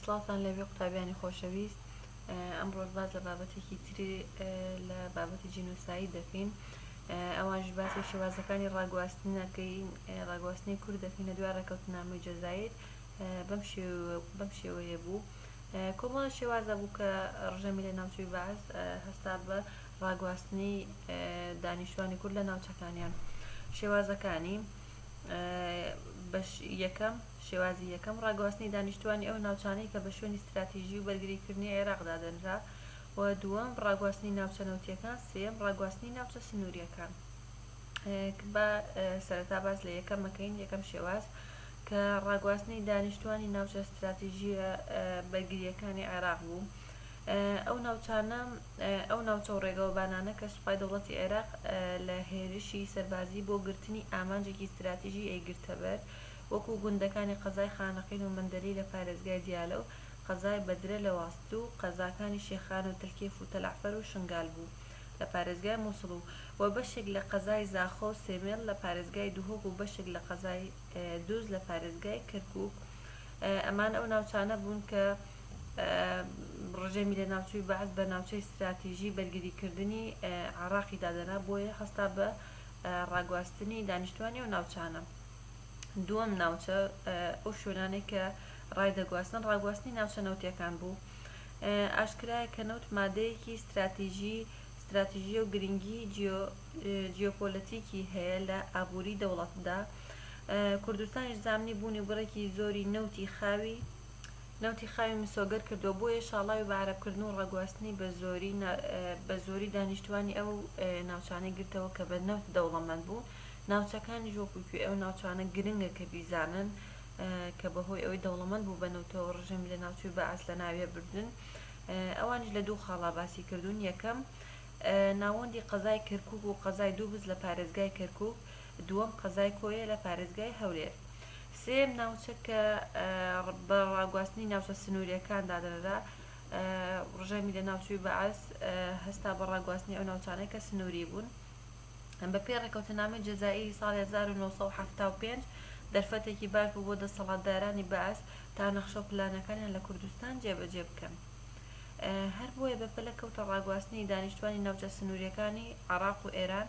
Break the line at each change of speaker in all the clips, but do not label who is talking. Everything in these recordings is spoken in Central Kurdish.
سڵاوتان لێبێ قوتابیانی خۆشەویست ئەمڕۆش باس لە بابەتێکی تری لە بابەتی جینۆساید دەکەین ئەوانش باسی شێوازەکانی ڕاگواستنەکەین ڕاگواستنی کورد دەکەین لە دوای ڕێکەوتنامەی جەزایر بەم شێوەیە بوو کۆمەڵە شێوازە بوو کە ڕژێمی لە ناوچوی بەعس هەستا بە ڕاگواستنی دانیشتوانی کورد لە ناوچەکانیان شێوازەکانی بەش یەکەم شێوازی یەکەم، ڕاگواستنی دانیشتووانی ئەو ناوچانەی کە بە شوێنی ستراتیژی و بەرگریکردنی عێراق دادەنرا و دووەم، ڕاگواستنی ناوچە نەوتییەکان سێیەم، ڕاگواستنی ناوچە سنوورییەکان. با سەرەتا باس لە یەکەم بکەین، یەکەم شێواز کە ڕاگواستنی دانیشتووانی ناوچە ستراتیژییە بەرگرییەکانی عێراق بوو، ئەو ناوچانە ئەو ناوچە و ڕێگەوبانانە کە سوپای دەوڵەتی عێراق لە هێرشی سەربازی بۆ گرتنی ئامانجێکی ستراتیژی ئەیگرتەبەر وەکو گوندەکانی قەزای خانەقین و مەندەلی لە پارێزگای دیالە و قەزای بەدرە لە واسط و قەزاکانی شێخان و تلکێف و تەلەعفەر و شنگال بوو لە پارێزگای موسڵ و و بەشێک لە قەزای زاخۆ و سێمێڵ لە پارێزگای دهۆک و بەشێک لە قەزای دوز لە پارێزگای کەرکوک ئەمان ئەو ناوچانە بوون کە ڕژێمی لەناوچووی بەعس بە ناوچەی ستراتیژی بەرگریکردنی عێڕاقی دادەنا بۆیە هەستا بە ڕاگواستنی دانیشتوانی ئەو ناوچانە. دووەم ناوچە ئەو شوێنانەی کە ڕای دەگواستن ڕاگواستنی ناوچە نەوتییەکان بوو ئاشکرایە کە نەوت مادەیەکی ستراتیژیە و گرنگی جیۆپۆلەتیکی هەیە لە ئابوری دەوڵەتدا کوردستانیش زامنی بوونی و بڕێکی زۆری نەوتی خاوی مسۆگەر کردووە بۆیە شاڵاوی بە عەرەب کردن و ڕاگواستنی بە زۆری دانیشتوانی ئەو ناوچانەی گرتەوە کە بە نەوت دەوڵەمەند بوون ناوچەکانیش وەکو کوێی ئەو ناوچانە گرنگە کە بیزانن کە بەهۆی ئەوەی دەوڵەمەند بوو بە نەوتەوە ڕژێمی لە ناوچووی بەعس لە ناویە بردن ئەوانیش لە دوو خاڵا باسی کردوون یەکەم ناوەندی قەزای کەرکوک و قەزای دووبز لە پارێزگای کەرکوک دووەم قەزای کۆیە لە پارێزگای هەولێر سێیەم ناوچە کە بە ڕاگواستنی ناوچە سنووریەکان دادەنرا ڕژێمی لە ناوچووی بەعس هەستا بە ڕاگواستنی ئەو ناوچانەی کە سنووری بوون بە پێی ڕێکەوتنامەی جەزائیری ساڵی 1975 دەرفەتێکی باش بوو بۆ دەسەڵاتدارانی بەعس تا نەخشە و پلانەکانیان لە کوردستان جێبەجێ بکەن هەر بۆیە بە پەلە کەوتە ڕاگواستنی دانیشتوانی ناوچە سنوریەکانی عێراق و ئێران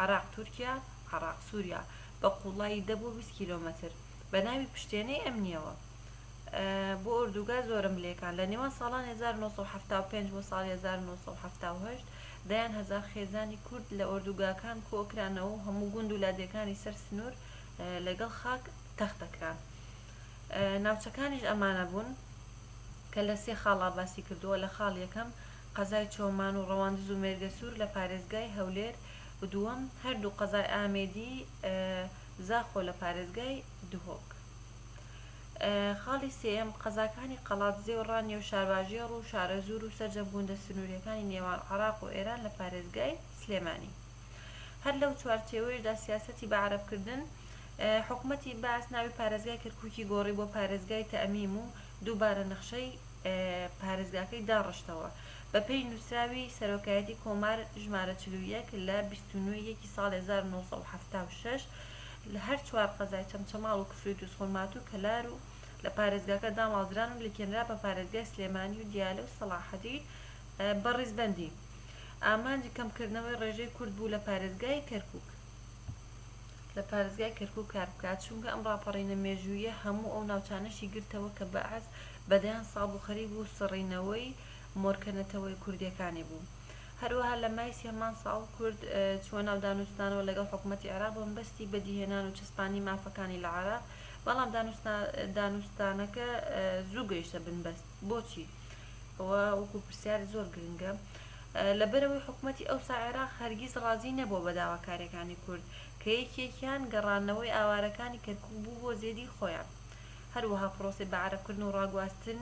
عێراق تورکیا عێراق سوریا بە قوڵایی 10 بۆ 20 کیلۆمەتر بە ناوی پشتێنەی ئەمنیەوە بۆ ئۆردوگا زۆرەملێکان لە نێوان ساڵانی 1975 بۆ ساڵی 1978 دەیان هەزار خێزانی کورد لە ئۆردوگاکان کۆکرانەوە و هەموو گوند و لادێکانی سەر سنوور لەگەڵ خاک تەختە کران. ناوچەکانیش ئەمانە بوون کە لە سێ خاڵا باسی کردووە، لە خاڵ یەکەم قەزای چۆمان و ڕەواندز و مێرگەسوور لە پارێزگای هەولێر و دووەم هەردوو قەزای ئامێدی زاخۆ لە پارێزگای دهۆک. خاڵی سێیەم، قەزاکانی قەڵادزێ و ڕانیە و شارباژێڕ و شارەزوور و سەرجەم گوندە سنوورییەکانی نێوان عێراق و ئێران لە پارێزگای سلێمانی. هەر لەو چوارچێوەیشدا سیاسەتی بە عەرەبکردن، حکومەتی بەعس ناوی پارێزگای کەرکووکی گۆڕی بۆ پارێزگای تەمیم و دووبارە نەخشەی پارێزگاکەی داڕشتەوە بە پێی نووسراوی سەرۆکایەتی کۆمار ژمارە چل و یەک لە بیست و نۆ ی یەکی ساڵی هەزار و نۆ سەد و حەفتا و شەش لە هەر چوار قەزای چەمچەماڵ و کفری و دووزخورماتوو و کەلار و لە پارێزگاکە داماڵدران و لکێنرا بە پارێزگای سلێمانی و دیالە و سەڵاحەدین بە ڕیزبەندی. ئامانج کەمکردنەوەی ڕێژەی کورد بوو لە پارێزگای کەرکوک. لە پارێزگای کەرکوک کار بکات چونکە ئەم ڕاپەڕینە مێژووییە هەموو ئەو ناوچانەشی گرتەوە کە بەعس بە دەیان ساڵ بوو خەریک بوو سڕینەوەی مۆرکە نەتەوەیە کوردیەکانی بوو هەروەها لە مای سی هەمان ساڵ کورد چووە ناو دانوستانەوە لەگەڵ حکوومەتی عێراق بە مەبەستی بەدیهێنان و چەسپاندنی مافەکانی لە عێراق، بەڵام دانوستانەکە زوو گەیشتە بنبەست. بۆچی؟ ئەوە وەکوو پرسیارێک زۆر گرنگە. لەبەرئەوەی حکوومەتی ئەوسا عێراق هەرگیز ڕازی نەبووە بە داواکارییەکانی کورد، کە یەکێکیان گەڕانەوەی ئاوارەکانی کەرکووک بوو بۆ زێدی خۆیان. هەروەها پرۆسەی بەعەرەبکردن و ڕاگواستن،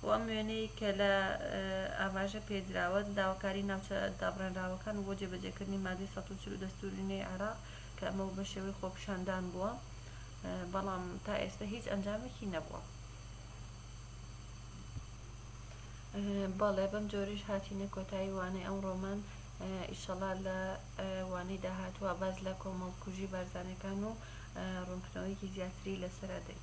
بۆ ئەم وێنەی کە لە ئاماژە پێی دراوە، داواکاری ناوچە دابڕێنراوەکان و بۆ جێبەجێکردنی مادەی سەد و چل و دەستووری نوێی عێراق کە ئەمە بوو بە شێوەی خۆپیشاندان بووە بەڵام تا ئێستە هیچ ئەنجامێکی نەبووە. بەڵێ بەم جۆرەیش هاتینە کۆتایی وانەی ئەمڕۆمان ئیشەڵا لە وانەی داهاتوە باز لە کۆمەڵکوژی بارزانەکان و ڕوونکردنەوەیەکی زیاتری لەسەرا دەین